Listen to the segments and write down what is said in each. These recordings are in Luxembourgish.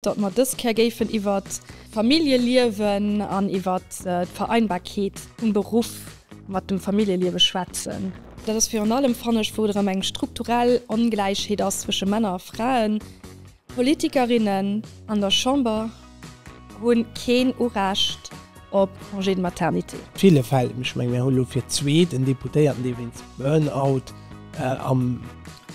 datt mer dës Kéier géifen iwwert d'Familljeliewen an iwwert d'Vereinbarkeet vum Beruff mat dem Familljeliewe schwätzen. Dat ass virun allem, fannen ech, wou et erëm eng strukturell Ongläichheet ass zwësche Männer a Fraen. D'Politikerinnen an der Chamber hu keen Urecht op Congé de maternité. Ville Fäll, ech menge mir hu lo fir d'zweet en Deputéierten, dee wéinst Burnout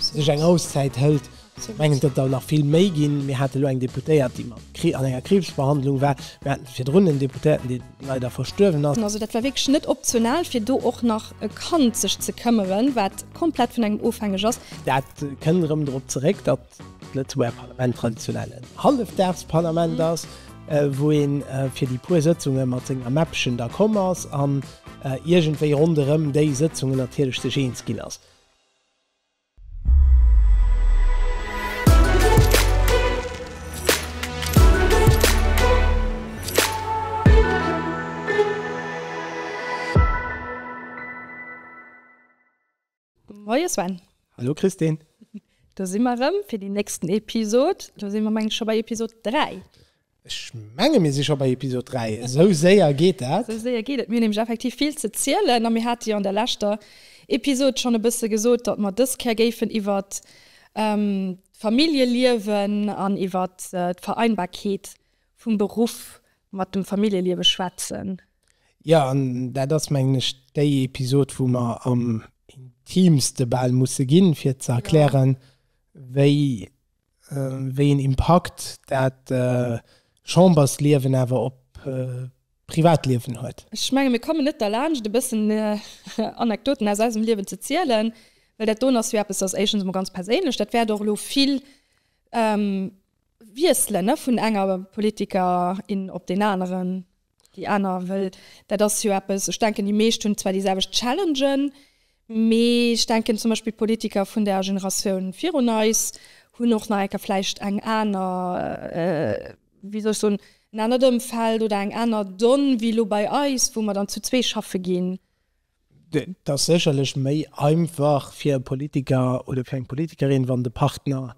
sech eng Auszäit hëlt, Ech mengen, et gëtt der nach vill méi ginn. Mir hate lo eng Deputéiert, déi mat Kri an enger Kriibsbehandlung war. Mir haten virdrun en Deputéierten, dee leider verstuerwen ass. Also dat war wierklech net optional, fir do och nach e Kand sech ze këmmeren, wat komplett vun engem ofhängeg ass. Dat kënnt erëm drop zeréck, datt d'Lëtzebuerger Parlament traditionell en Hallefdagsparlament ass, wou ee fir déi puer Sëtzunge mat senger Mäppchen da komm ass an iergendwéi ronderëm déi Sëtzungen natierlech sech eens ginn ass. Moie Sven. Hallo Christine. Do si mer erëm fir déi nächsten Episod. Do si mer mengen ech scho bei Episod 3. Ech menge mir si scho bei Episod 3, esou séier geet dat. Esou séier geet et, mir hunn nämlech effektiv vill ze zielen a mir hate jo an der leschter Episod schonn e bësse gesot, datt mer dës Kéier géifen iwwert d'Familljeliewen an iwwert d'Vereinbarkeet vum Beruff mat dem Familljeliewe schwätzen. Jo, an dat ass mengen ech déi Episod wou mer am intimste bal musse ginn, fir ze erklären, wéi wéi een Impakt dat Chambersliewen awer op d'Privatliewen huet. Ech menge mir komme net derlaanscht e bëssen Anekdoten aus eisem Liewen ze zielen, well dat doen ass jo eppes, dat ass éischtens emol ganz perséinlech, dat wäert och elo vill wiesselen vun enger Politikerin op deen aneren. Déi aner, well dat ass jo eppes, ech denken déi meescht hunn zwar déi selwecht Challengen, mee ech denken zum Beispill d'Politiker vun der Generatioun virun eis hunn och nach eng Kéier vläicht eng aner, wéi soll ech soen, en anert Ëmfeld oder eng aner Donne wéi elo bei eis, wou mer dann zu zwee schaffe ginn. Et ass sécherlech méi einfach fir e Politiker oder fir eng Politikerin, wann de Partner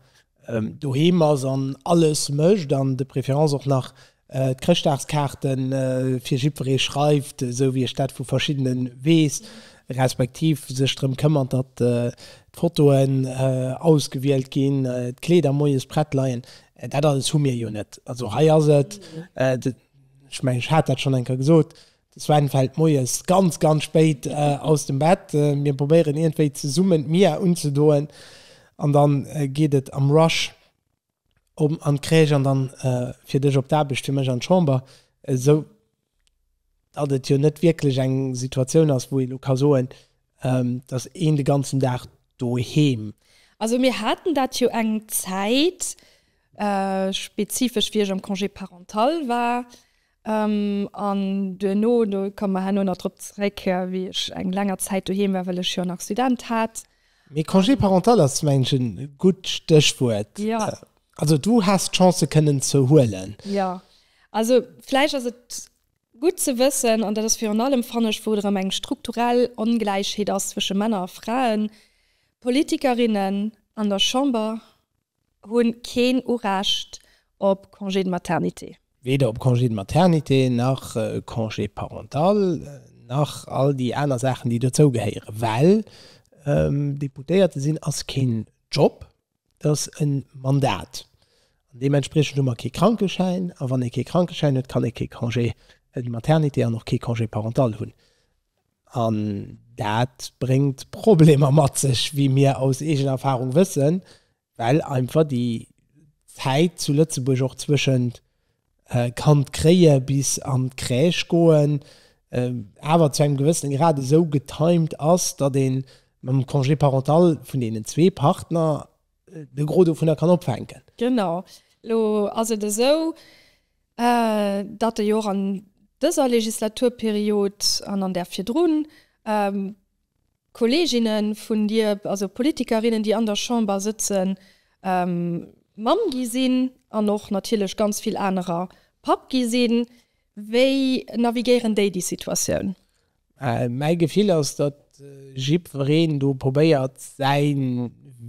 doheem ass an alles mécht an de préférence och nach d'Chrëschtdagskaarte fir jiddweree schreift, esou wéi ech dat vu verschiddene weess, respektiv sech drëm këmmert, datt d'Fotoen ausgewielt ginn, d'Kleeder moies prett leien. Dat alles hu mir jo net. Also hei ass et, ech mengen, ech hat dat schonn eng Kéier gesot, De Sven fällt moies ganz ganz spéit aus dem Bett. Mir probéieren iergendwéi zesummen d'Mia unzedoen an dann geet et am Rush op an d'Crèche an dann fir dech op d'Aarbecht, fir mech an d'Chamber, esou datt et jo net wierklech eng Situatioun ass wou ee lo ka soen, datt een de ganzen Dag doheem. Also mir haten dat jo eng Zäit, spezifesch wéi ech am Congé parental war, An duerno, do komme mer herno nach drop zeréck, wéi ech eng länger Zäit doheem war, well ech jo nach Student hat. Mee Congé parental ass mengen ech e gutt Stéchwuert. Also du häss d'Chance se kënnen ze huelen. Jo, also vläicht ass et gutt ze wëssen, an dat ass virun allem, fannen ech, wou et erëm eng strukturell Ongläichheet ass zwësche Männer a Fraen, Politikerinnen an der Chamber Hunn keen Urecht op Congé de maternité. Weder op Congé de maternité nach Congé parental nach all déi aner Saachen, déi dozou gehéieren. Well Deputéierte sinn ass keen Job, et ass e Mandat. An deementspriechend hu mer kee Krankeschäin. A wann ee kee Krankeschäin huet, kann ee kee Congé de maternité an och kee Congé parental hunn. An dat bréngt Problemer mat sech, wéi mir aus eegener Erfahrung wëssen, well einfach déi Zäit zu Lëtzebuerg och zwëschent Kand kréie bis an d'Crèche goen awer zu engem gewëssene Grad esou getimed ass, datt ee mam Congé parental vun deenen zwee Partner de Gros dovunner kann opfänken. Genau. Elo ass et esou, datt e jo och an dëser Legislaturperiod an an där virdrun Kolleeginne vun Dir, also Politikerinnen, déi an der Chamber sëtzen, Mamm gi sinn an och natierlech ganz vill anerer Papp gi sinn. Wéi navigéieren déi déi Situatioun? Mäi Gefill ass, datt jiddwereen do probéiert, säi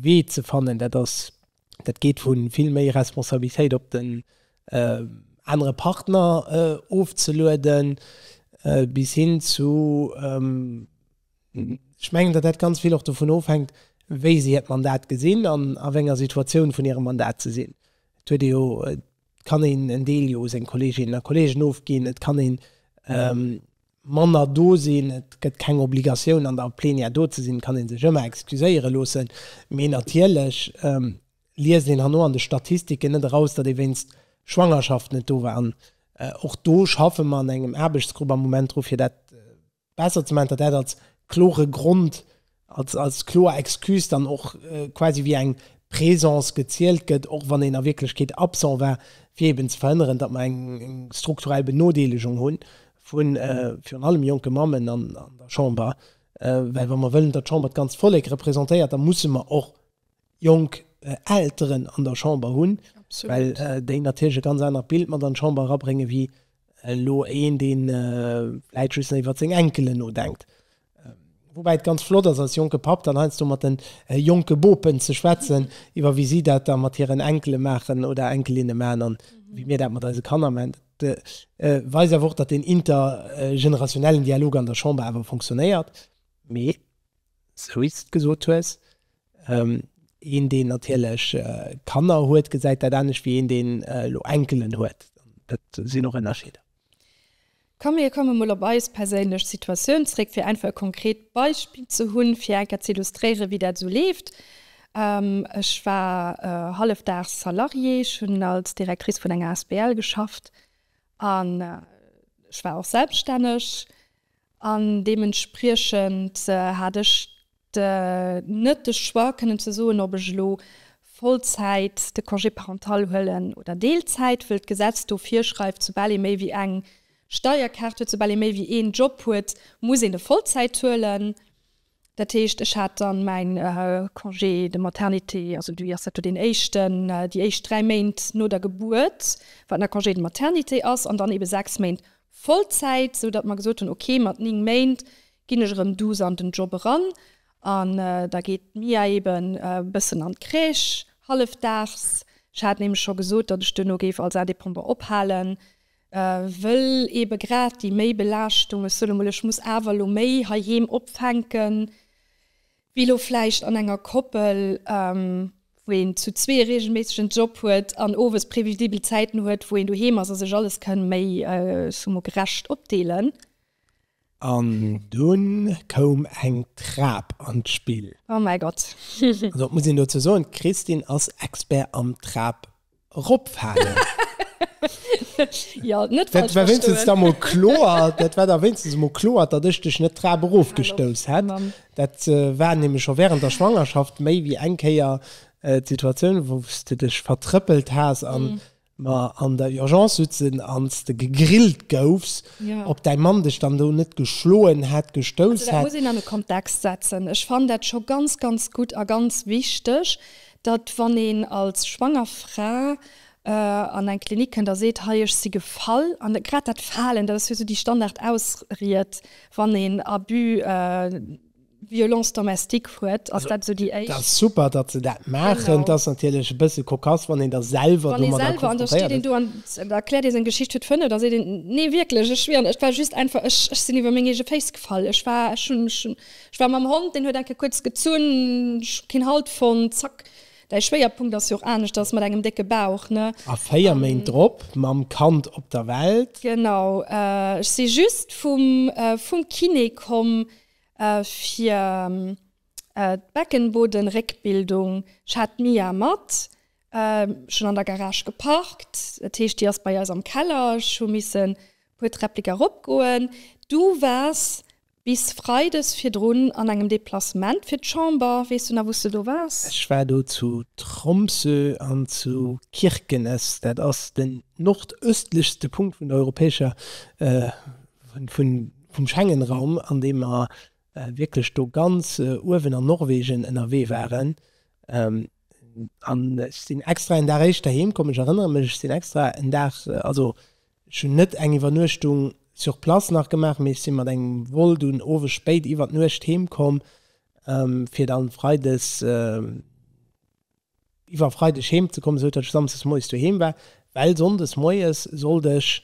Wee ze fannen. Dat ass dat geet vu vill méi Responsabilitéit op den anere Partner ofzelueden, bis hin zu, ech mengen, datt dat ganz vill och dovun ofhänkt, wéi si hiert Mandat gesinn an a wéi enger Situatioun vun hirem Mandat se sinn. Et huet ee jo, et kann een en Deel jo u seng Kolleeginnen a Kolleegen ofginn, et kann een, manner do sinn. Et gëtt keng Obligatioun an der Plenière do ze sinn, et kann ee sech ëmmer excuséiere loossen. Mee natierlech liest een herno an de Statistiken net eraus, datt ee wéinst Schwangerschaft net do war. An och do schaffe mer an engem Aarbechtsgrupp am Moment dru fir dat besser ze maachen, datt dat als klore Grond als kloer Excuse dann och quasi wéi eng Présence gezielt gëtt, och wann een a Wierklechkeet absent war, fir eben ze verhënneren, datt mer eng strukturell Benodeelegung hu vu virun allem jonke Mammen an der Chamber. Well wa mer wëllen, datt d'Chamber d'ganzt Vollek representéiert, da musse mer och jonk Elteren an der Chamber hunn, well déi natierlech e ganz anert Bild mat an d'Chamber erabréngen, wéi elo een, dee vläicht just nach iwwert seng Enkelen nodenkt. Woubäi et ganz flott ass, als jonke Papp dann heiansdo mat de jonke Bopen ze schwätzen, iwwer wéi si dat da mat hiren Enkele maachen oder Enkelinne maachen a wéi mir dat mat eise Kanner maachen. Dat weist awer och, datt deen intergenerationellen Dialog an der Chamber awer funktionéiert. Mee, esou wéi s de et gesot hues, Een deen natierlech Kanner huet gesäit dat anescht wéi een deen elo Enkelen huet. Dat sinn och Ënnerscheeder. Komm mir komme mol op eis perséinlech Situatioun zréck fir einfach e konkret Beispill ze hunn, fir eng Kéier ze illustréiere wéi dat esou leeft. Ech war hallefdaags Salariée, ech hunn als Directrice vun enger Asbl geschafft an ech war och selbststänneg an deementspriechend hat ech net de Choix kënnen ze soen, ob ech elo Vollzäit de Congé parental huelen oder Deelzäit, wëll d'Gesetz do virschreift, soubal ee méi wéi eng Steierkaart huet, soubal ee méi wéi een Job huet, muss een e Vollzäit huelen. Dat heescht, ech hat dann mäin Congé de maternité, also du ass dat do deen éischten, déi éischt dräi Méint no der Gebuert, wat nach Congé de maternité ass, an dann ebe sechs Méint Vollzäit, sou datt mer gesot hunn, okay, mat néng Méint Ginn ech erëm douce an den Job eran an da geet d'Mia eeben e bëssen an d'Crèche, hallefdaags. Ech hat nämlech scho gesot, datt ech duerno géif als Indépendant ophalen, wëll eebe grad déi Méibelaaschtung, ech soen emol, ech muss awer elo méi heiheem opfänken, wéi elo vläicht an enger Koppel, wou een zu zwee e reegelméisseg en Job huet an owes previsibel Zäiten huet, wou een doheem ass a sech alles kënn méi, ech soe mol, gerecht opdeelen. An dunn koum eng Trap an d'Spill. Oh mäi Gott! Also et muss een dozou soen, d'Christine ass Expert am Trap ropfalen. Jo, net falsch verstoen. Dat war wéinstens da mol kloer, dat war da wéinstens emol kloer, datt ech dech net d'Trap erofgestouss hätt. Dat war nämlech scho wärend der Schwangerschaft méi wéi eng Kéier d'Situatioun, wou s de dech vertrëppelt has an mer an der Urgence sutzen ans de gegrillt goufs, op däi Mann dech dann do net geschloen hätt, gestouss hätt. Also dat muss een an e Kontext setzen. Ech fannen dat scho ganz, ganz gutt a ganz wichteg, datt wann een als schwanger Fra an eng Klinik kënnt a seet, hei ech si gefall, an grad dat Falen, dat ass jo esou déi Standardausried, wann een Abus. Violence domestique huet, ass dat esou déi éischt. Dat ass super, datt se dat maachen. Et ass natierlech e bësse cocasse, wann een da selwer domadder konfrontéiert ass. Wann ee selwer, an da steet een do an erkläert ee seng Geschicht huet Fënn, da seet een, Nee, wierklech, ech wier, et war just einfach, ech sinn iwwer meng eege Féiss gefall, ech war, ech hunn, ech war mam Hond, deen huet enke kuerz gezunn, ech hu keen Halt fonnt, zack. Däi Schwéierpunkt ass jo och anescht, ass mat engem décke Bauch, ne? A véier Méint drop mam Kand op der Welt. Genau. Ech si just vum Kiné komm, Fir d'Beckenbodenréckbildung hat d'Mia mat schonn an der Garage geparkt. Dat heescht, déi ass bei eis am Keller. Ech hu missen e puer Träppleken eropgoen. Du waars bis freides virdrun an engem Deplacement fir d'Chamber. Weess du nach, wou s de do waars? Ech war do zu Tromsø an zu Kirkenes. Dat ass den nordëstlichste Punkt vun der europäescher, vun. vum Schengenraum, an deem mer wierklech do ganz uewen an Norwegen ënnerwee waren. An ech sinn extra en Dag éischter heem komm, ech erënnere mech, ech sinn extra en Dag, also ech hunn net eng Iwwernuechtung sur place nach gemaach, mee ech si mat engem Vol dunn owes spéit iwwer d'Nuecht heem komm, fir dann freides iwwer Freideg heem ze kommen, esou datt ech Samsdes moies doheem war, well Sonndes moies sollt ech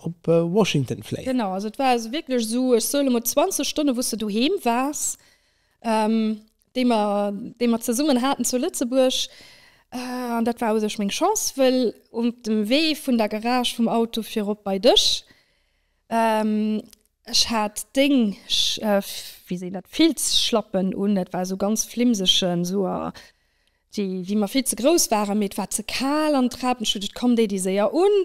op Washington fléien. Genau, also et war also wierklech esou, ech soe lo mol 20 Stonne wou s de doheem waars, déi mer, déi mer zesummen haten zu Lëtzebuerg. An dat war u sech meng Chance, well op dem Wee vun der Garage vum Auto fir erop bei dech, Ech hat déng, wéi seet een dat, Filzschlappen un. Dat war esou ganz flimsegen Suar, déi, déi mer vill ze grouss waren. Mee et war ze kal an d'Rapenstut, et koum déi, déi séier un.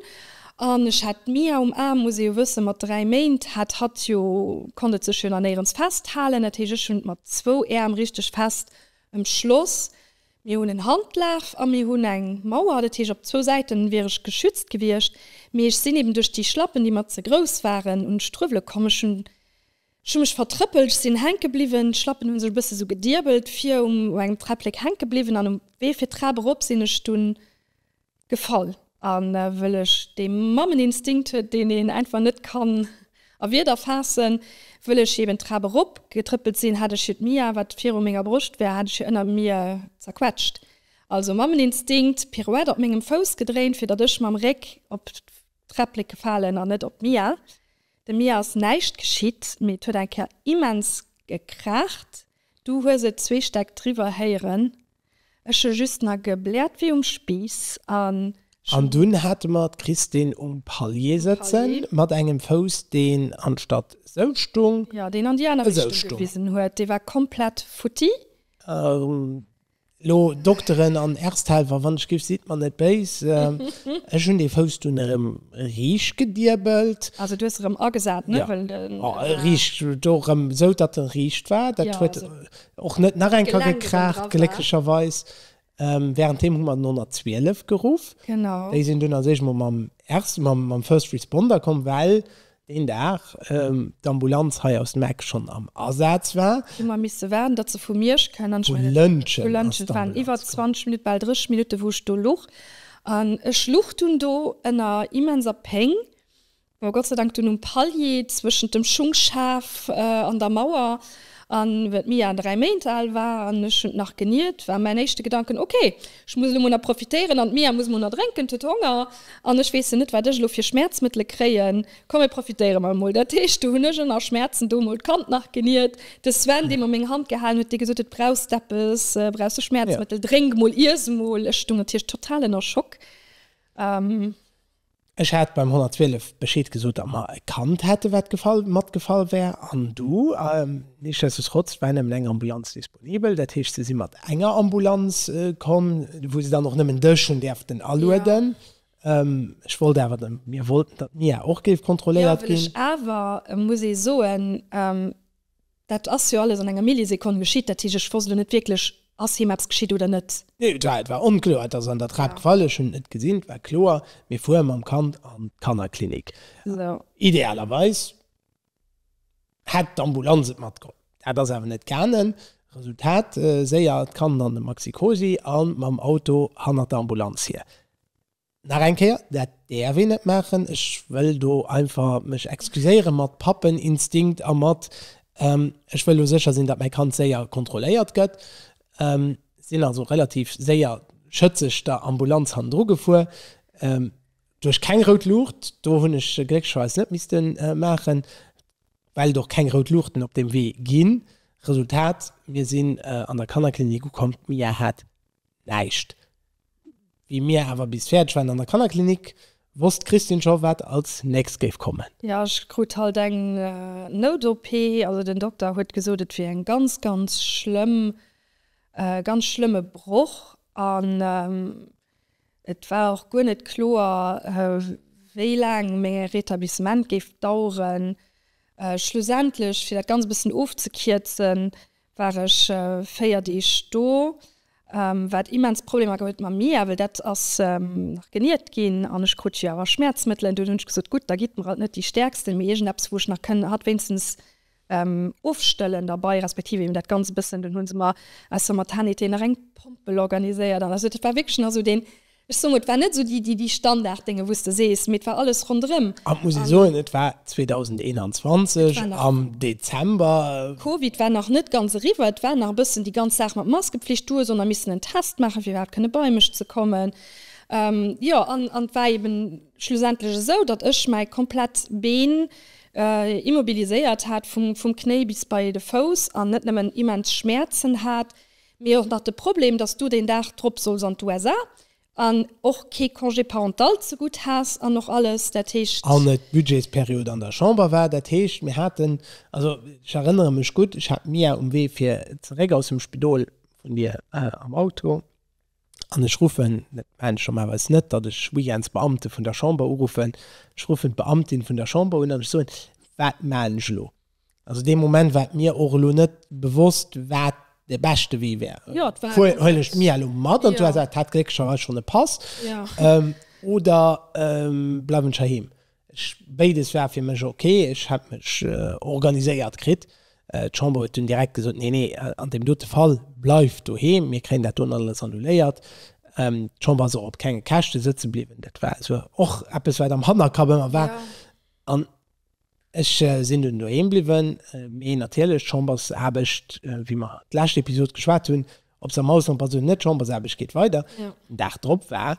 An ech hat d'Mia um Aarm, muss ee jo wëssen, mat dräi Méint hat hatt jo, konnt et sech jo nach néierens festhalen. Dat heescht, ech hunn et mat zwou Äerm richteg fest ëmschloss. Mir hunn en Handlaaf a mir hunn eng Mauer, dat heescht op zwou Säiten wier ech geschützt gewiescht, mee ech sinn eben duerch déi Schlappen, déi mer ze grouss waren, un d'Struewele komm. Ech hunn ech hu mech vertrëppelt, ech sinn hänke bliwwen, d'Schlappen hu sech e bësse sou gedierbelt, vir um u engem Träpplek hänke bliwwen an um Wee fir d'Trap erop sinn ech dunn. Gefall a wëll ech dee Mammeninstinkt, deen een einfach net kann a Wierder faassen, wëll ech eben d'Trap erop getrëppelt sinn, hat ech hiert Mia, wat viru menger Broscht war, hat ech hir ënner mir zerquetscht. Also Mammeninstinkt, Pirouette op mengem Fouss gedréint, fir datt ech mam Réck op d'Träpplek gefalen an net op d'Mia. Dem Mia ass näischt geschitt, mee et huet eng Kéier immens gekraacht, du hues et zwee Stäck driwwer héieren. Ech hu just na gebläert wéi um Spiiss an. An dunn hate mer d'Christine um Palier sëtze mat engem Fouss, deen anstatt esou stung, esou stung. Jo, deen an déi aner Richtung gewisen huet. Dee war komplett futti. Elo, Dokteren an Ersthellwer, wann ech giff, sidd mer net béis. Ech hunn dee Fouss dunn erëm riicht gediebelt. Also du hues erëm agesat, ne? Jo, riicht, do erëm esou, datt en riicht war. Dat huet Och net nach eng Ka gekraacht glécklecherweis. Während deem hu mer den 112 geruff. Déi sinn dunn als éischt mol mam Erste, mam First Responder komm, well deen Dag d'Ambulanz hei aus dem Eck schonn am Asaz war. Hu mer misse waarden, datt se vu Miersch kennt an vu Lëntgen. Vu Lëntgen. Et waren iwwer 20 Minutte, bal 30 Minutte wou ech do luch. An ech luch dunn do ënner immenser Péng. War Gott sei Dank dunn um Palier, zwëschent dem Schungschaf an der Mauer. An well d'Mia 3 Méint al war an ech hunn nach geniert, war mäin éischte Gedanken, ok, ech muss elo mol nach profitéieren an d'Mia muss mol nach drénken, d'huet Honger an ech weessen net wat ech elo fir Schmäerzmëttele kréien, komm mir profitéiere mer mol. Dat heescht, do hunn ech ënner Schmäerzen do mol d'Kand nach geniert. De Sven, dee mer meng Hand gehalen huet, dee gesot huet, brauchs de eppes, brauchs de Schmäerzmëttel, drénk mol, iess mol. Ech stoung natierlech total ënner Schock. Ech hat beim 112 Bescheed gesot, datt mer e Kand hätten, wat gefall, matgefall wär, an du, nichtsdestotrotz war nëmmen eng Ambulanz disponibel, dat heescht, se si mat enger Ambulanz komm, wou se dann och nëmmen dech hunn däerften alueden. Ech wollt awer, mir wollten, datt d'Mia och géif kontrolléiert ginn. Awer muss ee soen, Dat ass jo alles an enger Millisekonn geschitt. Dat heescht, ech wosst elo net wierklech, ass him eppes geschitt oder net. Nee, et war, et war onkloer. Et ass an der Trap gefall, ech hunn et net gesinn. Et war kloer, mir fuere mam Kand an d'Kannerklinik. Idealerweis hätt d'Ambulanz et matgeholl. Dat ass awer net gaangen. Resultat, séier d'Kand an de Maxi-Cosi a mam Auto hannert der Ambulanz hier. Nach eng Kéier, dat däerf een net maachen. Ech wëll do einfach mech excuséiere mat Pappeninstinkt a mat ech wëll elo sécher sinn, datt mäi Kand séier kontrolléiert gëtt. Sinn also relativ séier schëtzeg der Ambulanz hannendru gefuer, duerch keng rout Luucht, do hunn ech glécklecherweis net misste maachen, well et och keng rout Luuchten op deem Wee ginn. Resultat, mir sinn an der Kannerklinik ukomm, d'Mia hat Näischt. Wéi mir awer bis fäerdeg waren an der Kannerklinik, wosst d'Christine scho wat als nächst géif kommen. Jo, ech krut halt eng Nout-OP. Also den Dokter huet gesot, et wier eng ganz, ganz schlëmm, ganz schlëmme Broch an et war och guer net kloer, wéi laang meng Rétablissement géif daueren. Schlussendlech, fir dat Ganzt e bëssen ofzekierzen, war ech 4 Deeg do, wat immens Problemer geholl huet mam Mia, well dat ass nach geniert ginn an ech krut jo awer Schmäerzmëttelen. Dunn hunn ech gesot, gutt, da gitt mer alt net déi stäerksten, mee iergendeppes, wou ech nach kënn hatt wéinstens ofstëllen derbai, respektiv eben dat Ganzt e bëssen. Dunn hu se mer aus der Maternité nach eng Pompel organiséiert an esou. Dat war wierklech nach esou deen. Ech soen, et war net esou déi, déi, déi Standarddénge wou s de sees, mee et war alles ronderëm. An et muss ee soen, et war 2021 am Dezember. Covid war nach net ganz eriwwer, et war nach e bëssen déi ganz Saach mat Maskepflicht. Du hues och nach missen en Test maachen, fir iwwerhaapt kënne bei mech ze kommen. Jo, an et war eeben schlussendlech esou, datt ech mäi komplett Been immobiliséiert hat, vum Knéi bis bei de Fouss, an net nëmmen immens Schmäerzen hat. Mee och nach de Problem, dass du deen Dag drop solls an d'USA an och kee Congé parental zegutt has an och alles. Dat heescht. An et d'Budgetsperiod an der Chamber war. Dat heescht, mir haten, also ech erënnere mech gutt, ech hat d'Mia um Wee fir zeréck aus dem Spidol vun dir am Auto an ech ruffen, dat maachen ech normalerweis net, datt ech weekends d'Beamte vun der Chamber uruffen, ech ruffen d'Beamtin vun der Chamber un an ech soen, Wat maachen ech elo? Also dee Moment war et mir och elo net bewosst, wat de beschte Wee wär. Ja, et war Fuer, einfach huelen ech net. d'Mia elo mat an Ja. d'USA? Et hat glécklecherweis schonn e Pass. Ja. Ähm, oder ähm, bleiwen ech heiheem? Ech, béides war fir mech ok. Ech hat mech äh, organiséiert kritt. Äh, d'Chamber huet dunn direkt gesot, nee, nee, äh, an deem dote Fall, bleift doheem, mir kréien dat dunn alles annuléiert. Ähm, d'Chamber ass och op kenge Käschte sëtze bliwwen. Dat war also och eppes, wat am Hannerkapp ëmmer war. Ja. An Ech sinn dunn doheem bliwwen, mee natierlech d'Chambersaarbecht, wéi mer d'lescht Episod geschwat hunn, ob se am Ausland bleift oder net, d'Chambersaarbecht geet weider. Den Dag drop war,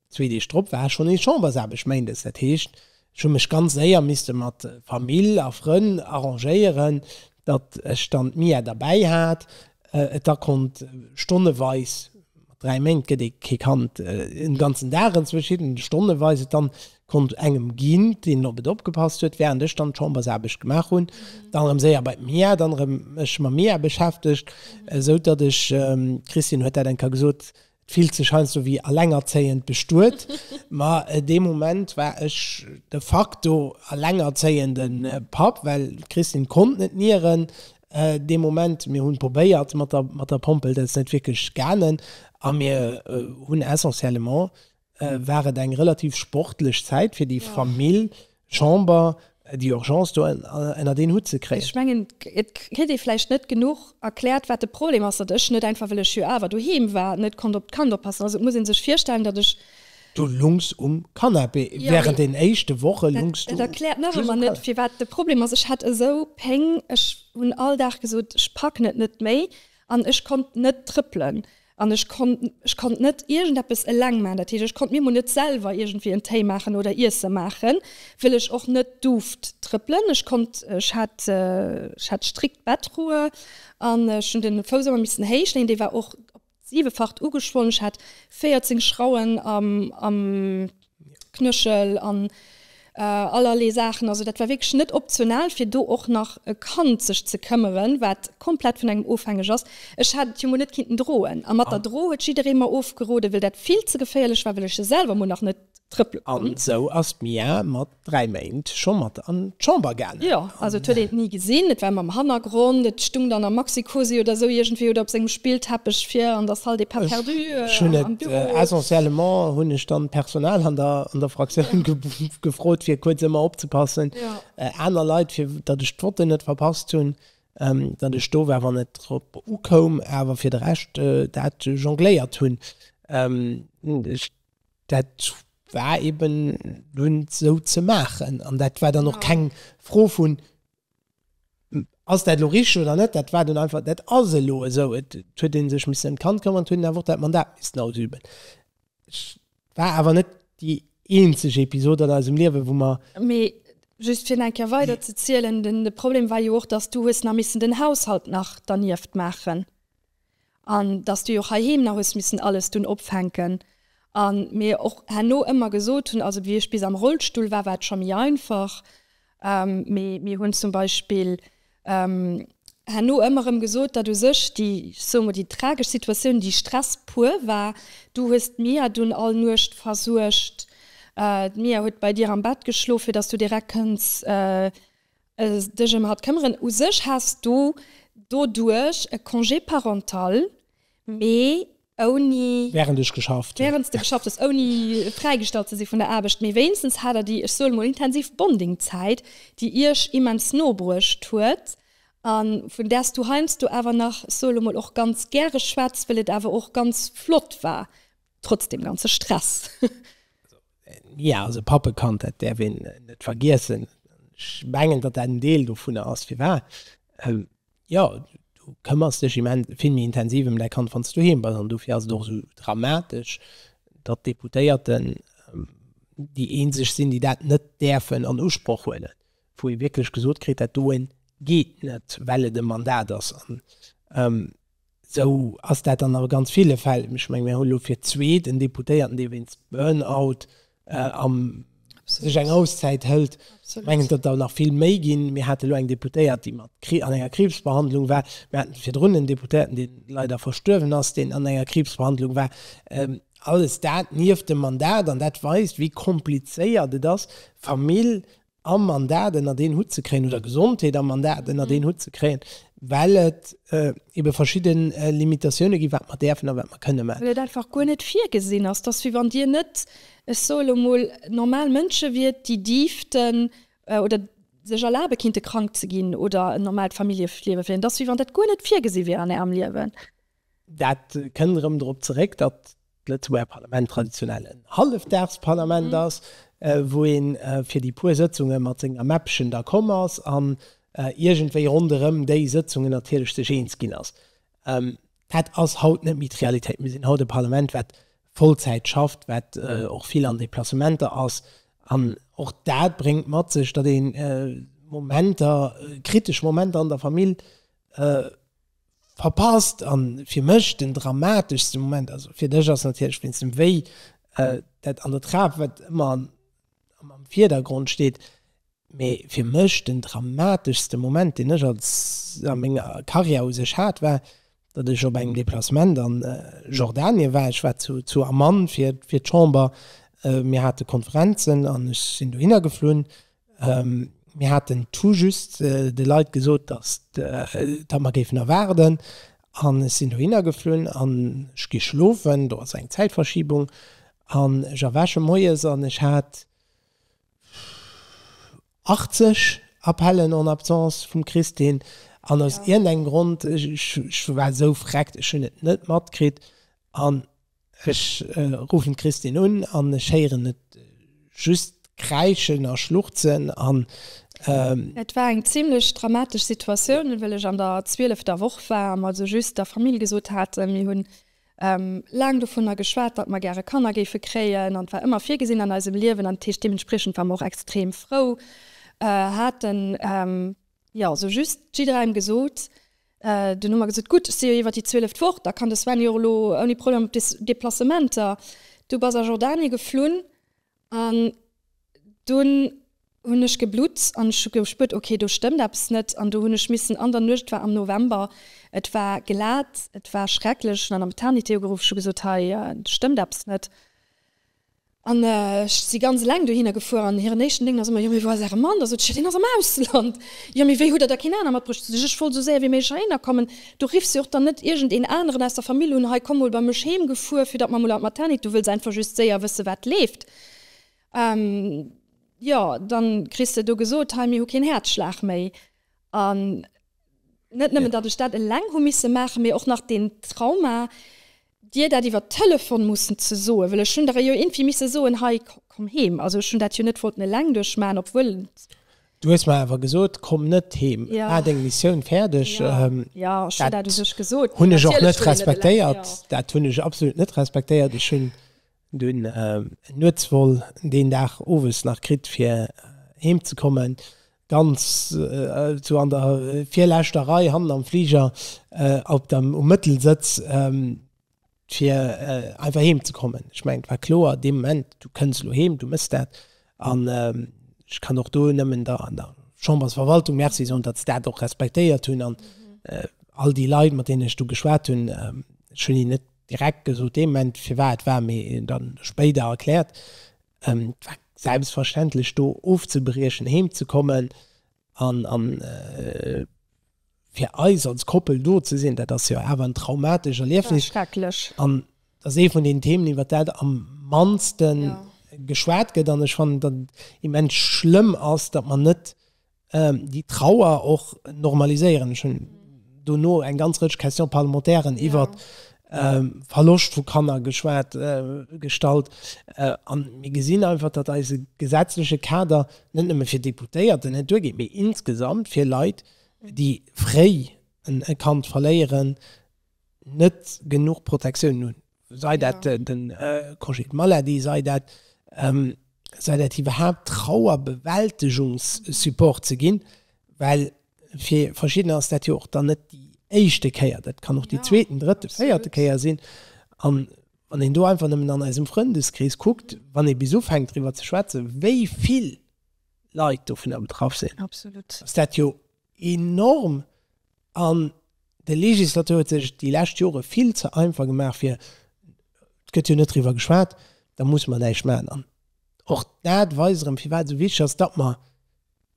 zwee Deeg drop war schonn nees Chambersaarbecht, Méindes. Dat heescht, ech hu mech ganz séier misste mat Famill a Frënn arrangéieren, datt ech dann d'Mia derbäi hat, et da konnt stonneweis Mat 3 Méint gëtt ee kee Kand en ganzen Dag, enzwousch hinnen stonneweis. Et dann konnt engem ginn, deen op et opgepasst huet, während ech dann d'Chambersaarbecht gemaach hunn, dann erëm séier bei d'Mia, dann erëm mech mam Mia beschäftegt, esou datt ech, d'Christine huet dat eng Kéier gesot, et fillt sech heiansdo wéi elengerzéiend bestuet, ma dee Moment war ech de facto elengerzéiende Papp, well d'Christine konnt net nieren, Dee Moment, mir hunn probéiert mat der mat der Pompel, dat ass net wierklech gaangen a mir hunn essentiellement war et eng relativ sportlech Zäit fir déi Famill, Chamber, déi Urgence do ënnert een Hutt ze kréien. Ech mengen et kritt ee vläicht net genuch erkläert wat de Problem ass, datt ech net einfach, well ech jo awer doheem war, net konnt op d'Kand oppassen. Also et muss ee sech virstellen, datt ech Du lungs um Canapé während den éischte Woche lungs du just um Canapé. Dat erkläert nach ëmmer net firwat de Problem ass. Ech hat esou Péng, ech hunn all Dag gesot, ech packen et net méi an ech konnt net trëppelen an ech konnt ech konnt net iergendeppes eleng maachen. Dat heescht ech konnt mir mol net selwer iergendwéi en Téi maachen oder Iesse maachen, wëll ech och net duft trëppelen. Ech konnt ech hat ech hat strikt Bettruhe an ech hunn de Fouss ëmmer missen héich leeën. Dee war och op siwefacht ugeschwonn, ech hat 14 Schrauen am am Knëchel an allerlee Saachen, also dat war wierklech net optional fir do och nach e Kand sech ze këmmeren, wat komplett vun engem ofhängeg ass. Ech hat et jo mol net kinnten droen a mat der Dro huet jidderee mer ofgeroden, well dat vill ze geféierlech war, well ech jo selwer mol nach net trëppele konnt. An esou ass d'Mia mat 3 Méint scho mat an d'Chamber gaangen. Jo, also et huet een et ni gesinn, et war mam Hannergrond, et stung dann am Maxi-Cosi oder esou iergendwéi oder op sengem Spillteppech vir an der Salle des pas perdus am Büro. Ech hunn et, essentiellement hunn ech dann d'Personal an der Fraktioun gefrot, fir kuerz ëmmer opzepassen, aner Leit, fir datt ech d'Votten net verpasst hunn, datt ech do war, wann et drop ukoum, awer fir de Rescht dat jongléiert hunn. Dat war eben dunn esou ze maachen an dat war dann och keng Fro vun, Ass dat elo richteg oder net? Dat war dunn einfach, Dat ass elo esou. Et huet ee sech missen ëm d'Kand këmmern, et huet een awer och dat Mandat missen ausüben. Et war awer net déi eenzeg Episod an eisem Liewen, wou mer. Mee just fir nach eng Kéier weiderzezielen, De Problem war jo och, datt s du hues nach missen den Haushalt nach dernieft maachen. an dass du jo och heiheem nach hues missen alles dunn opfänken an mir och herno ëmmer gesot hunn, also wéi ech bis am Rollstull war, war et scho méi einfach, mee mir hunn zum Beispill herno ëmmer erëm gesot, datt u sech déi, ech soe mol, déi tragesch Situatioun, déi Stress puer war, du hues d'Mia dunn all Nuecht versuergt, d'Mia huet bei dir am Bett geschlof, fir dass du direkt kënns dech ëm hatt këmmeren. U sech häss du doduerch e Congé parental, mee ouni. Wärend ech geschafft hunn. Wärend s de geschafft hues, ouni fräigestallt ze si vun der Aarbecht. Mee wéinstens hat der déi, ech soe mol, intensiv Bonding-Zäit, déi iech immens no bruecht huet a vun där s du heiansdo awer nach, ech soe lo mol, och ganz gäre schwätz, wëll et awer och ganz flott war, trotz deem ganze Stress. Jo, also Pappekand, dat däerf een net vergiessen. Ech mengen, datt dat en Deel dovunner ass, firwat, jo, du këmmers dech immens vill méi intensiv ëm däi Kand, wann s du doheem bass. An dofir ass et och esou dramatesch, datt d'Deputéierten déi eenzeg sinn, déi dat net däerfen an Usproch huelen, wou ee wierklech gesot kritt, dat doen geet net, well et e Mandat ass. An Esou ass dat dann a ganz ville Fäll. Ech menge mir hu lo fir d'zweet en Deputéierten, dee wéinst Burnout sech eng Auszäit hëlt. Ech mengen, et gëtt der nach vill méi ginn. Mir hate lo eng Deputéiert, déi mat an enger Kriibsbehandlung war. Mir haten virdrun en Deputéierten, dee leider verstuerwen ass, deen an enger Kriibsbehandlung war. Alles dat nieft dem Mandat. An dat weist, wéi komplizéiert et ass, Famill am Mandat ënnert een Hutt ze kréien, oder Gesondheet am Mandat ënnert een Hutt ze kréien, well et ebe verschidde Limitatioune ginn, wat mer däerfen a wat mer kënne maachen. Well et einfach guer net virgesinn ass. Et ass, wéi wann Dir net, ech soe elo mol, normal Mënsche wiert, déi dierften oder sech erlabe kinnte krank ze ginn oder en normaalt Familljeliewe féieren. Et ass, wéi wann dat guer net virgesi wier an Ärem Liewen. Dat kënnt erëm drop zeréck, datt d'Lëtzebuerger Parlament traditionell en Hallefdagsparlament ass, wou ee fir déi puer Sëtzunge mat senger Mäppchen da komm ass an iergendwéi ronderëm déi Sëtzungen natierlech sech eens ginn ass. Dat ass haut net méi d'Realitéit. Mir sinn haut e Parlament, wat Vollzäit schafft, wat och vill an Deplacementer ass. An och dat bréngt mat sech, datt ee Momenter, kritesch Momenter an der Famill Verpasst, an fir mech den dramateschste Moment, also fir dech ass natierlech wéinst dem Wéi dat an der Trap, wat ëmmer am Virdergrond steet, mee fir mech den dramateschste Moment deen ech als a menger Carrière u sech hat, war datt ech op engem Deplacement an Jordanien war. Ech war zu Amman fir d'Chamber, mir hate Konferenzen an ech sinn dohinner geflunn Mir haten tout just de Leit gesot, datt datt mer géifen erwaarden an ech sinn dohinner geflunn an ech gi schlofen, do ass eng Zäitverschiebung, an ech erwäche moies an ech hat 80 Appellen en absence vum Christine an aus iergendengem Grond, ech war esou vreckt, ech hunn et net matkritt an Ech ruffen d'Christin un an ech héieren et just kräischen a schluchzen an. Et war eng zimlech dramatesch Situatioun, well ech an der zwielefter Woch war a mer also just der Famill gesot haten, mir hunn laang dovunner geschwat, datt mer gäre Kanner géife kréien an et war ëmmer virgesinn an eisem Liewen an dat heescht deementspriechend war mer och extrem frou, haten jo also just jidderengem gesot, Den Numm ergëtt et gutt, ech si jo iwwer déi zwieleft Woch, da kann de Sven jo och elo ouni Problem op des Deplacementer. Du bass a Jordanien geflunn an dunn hunn ech geblutt an ech hu gespuert, ok, do stëmmt eppes net an do hunn ech missen an der Nuecht, et war am November, et war glat, et war schrecklech, hunn an der Maternité ugeruff, ech hu gesot, hei stëmmt eppes net. An ech si ganz eleng dohinner gefuer, an hiren éischten Denken ass ëmmer, Jo, mee wou ass Äre Mann? Da sot ech, Jo, deen ass am Ausland. Jo, mee wéi hutt Der da keen aner matbruecht? Da sot ech, Ech wollt esou séier wéi méiglech heihinner kommen. Du riffs jo och dann net iergend een aneren aus der Famill un, Hei, komm mol bei mech heem gefuer, fir datt mer mol an d'Maternité. Du wëlls einfach just séier wëssen, wat leeft. Jo, da kriss de do gesot, Hei, mir hu keen Häerzschlag méi. An net nëmmen, datt ech dat eleng hu misse maachen, mee och nach deen Trauma, Dir dat iwwert Telefon mussen ze soen, well ech hunn der jo iergendwéi misse soen, hei komm heem. Also ech hunn dat jo net wollten eleng duerchmaachen, obwuel. Du hues mer awer gesot, komm net heem, maach deng Missioun fäerdeg. Dat hunn ech och net respektéiert, dat hunn ech absolut net respektéiert. Ech hunn Mir hunn Nuetsvol deen Dag owes nach kritt fir heem ze kommen, ganz sou an der virleschter Rei hannen am Fliger op der um Mëttelsëtz fir einfach heem ze kommen. Ech mengen et war kloer dee Moment, du kënns elo heem, du mëss dat an ech kann och do nëmmen der Chambersverwaltung Merci soen, datt se dat och respektéiert hunn an all déi Leit mat deenen ech do geschwat hunn, ech hunn hinnen net direkt gesot dee Moment, firwat war, mee dann spéider erkläert, et war selbstverständlech do ofzebriechen, heem ze kommen an fir eis als Koppel do ze sinn, dat ass jo awer en traumatescht Erliefnis an et ass ee vun den Themen, iwwert dat am mannsten geschwat gëtt an ech fannen, datt et immens schlëmm ass, datt mer net déi Trauer och normaliséieren. Ech hunn dono eng ganz Rëtsch Questions parlementairen iwwer Verloscht vu Kanner geschwat, gestallt. A mir gesinn einfach, datt eise gesetzleche Kader net nëmme fir Deputéierten net duergeet, mee insgesamt fir Leit, déi fréi e Kand verléieren, net genuch Protectioun hunn, sei dat de Congé de maladie, sei dat sei dat iwwerhaapt Trauerbewältegungssupport ze ginn, well fir verschiddener ass dat jo och dann net déi éischte Kéier, dat kann och déi zweeten, drëtten, véierte Kéier sinn. An wann een do einfach nëmmen an eisem Frëndeskrees kuckt, wann ee bis ufänkt driwwer ze schwätzen, wéi vill Leit dovunner betraff sinn, ass dat jo Enorm! An de Legislateur huet sech déi lescht Jore vill ze einfach gemaach fir, et gëtt jo net driwwer geschwat, da musse mer näischt maachen. An och dat weist erëm, firwat et esou wichteg ass, datt mer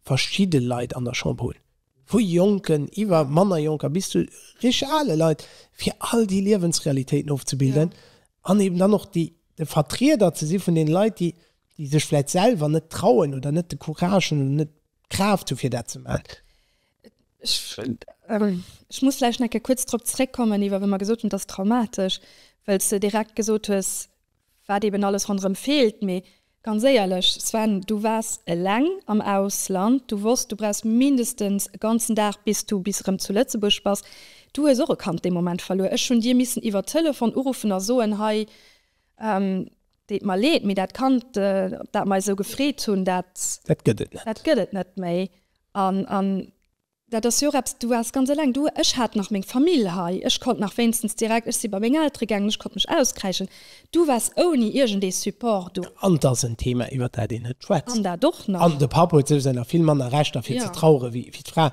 verschidde Leit an der Chamber hunn, vu Jonken iwwer manner Jonker bis zu richteg ale Leit, fir all déi Liewensrealitéiten ofzebilden an eben dann och de Vertrieder ze si vun deene Leit, déi sech vläicht selwer net trauen oder net de Courage hunn oder net d'Kraaft hu fir dat ze maachen. Ech, ähm, ech muss vläicht nach eng kuerz drop zréckkommen, iwwer wa mer gesot hunn, et ass traumatesch, well s de direkt gesot hues, wat eeben alles ronderëm feelt. Mee ganz éierlech, Sven, du waars eleng am Ausland, du wosst, du brauchs mindestens e ganzen Dag, bis du bis erëm zu Lëtzebuerg bass. Du hues och e Kand dee Moment verluer. Ech hunn dir missen iwwer Telefon uruffen a soen, Hei, ähm, Deet mer leed, mee dat Kand, op dat mer eis esou gefreet hunn, dat. Dat gëtt et net. Dat gëtt et net méi. An, an dat ass jo och eppes, du waars ganz eleng. Du, ech hat nach meng Famill hei, ech konnt nach wéinstens direkt, ech si bei meng Eltere gaangen, ech konnt mech auskräischen. Du waars ouni iergendee Support do. An et ass en Thema, iwwert dat een net schwätzt. An dat och nach. An de Papp huet souwisou nach vill manner Rechter, fir ze trauere wéi d'Fra.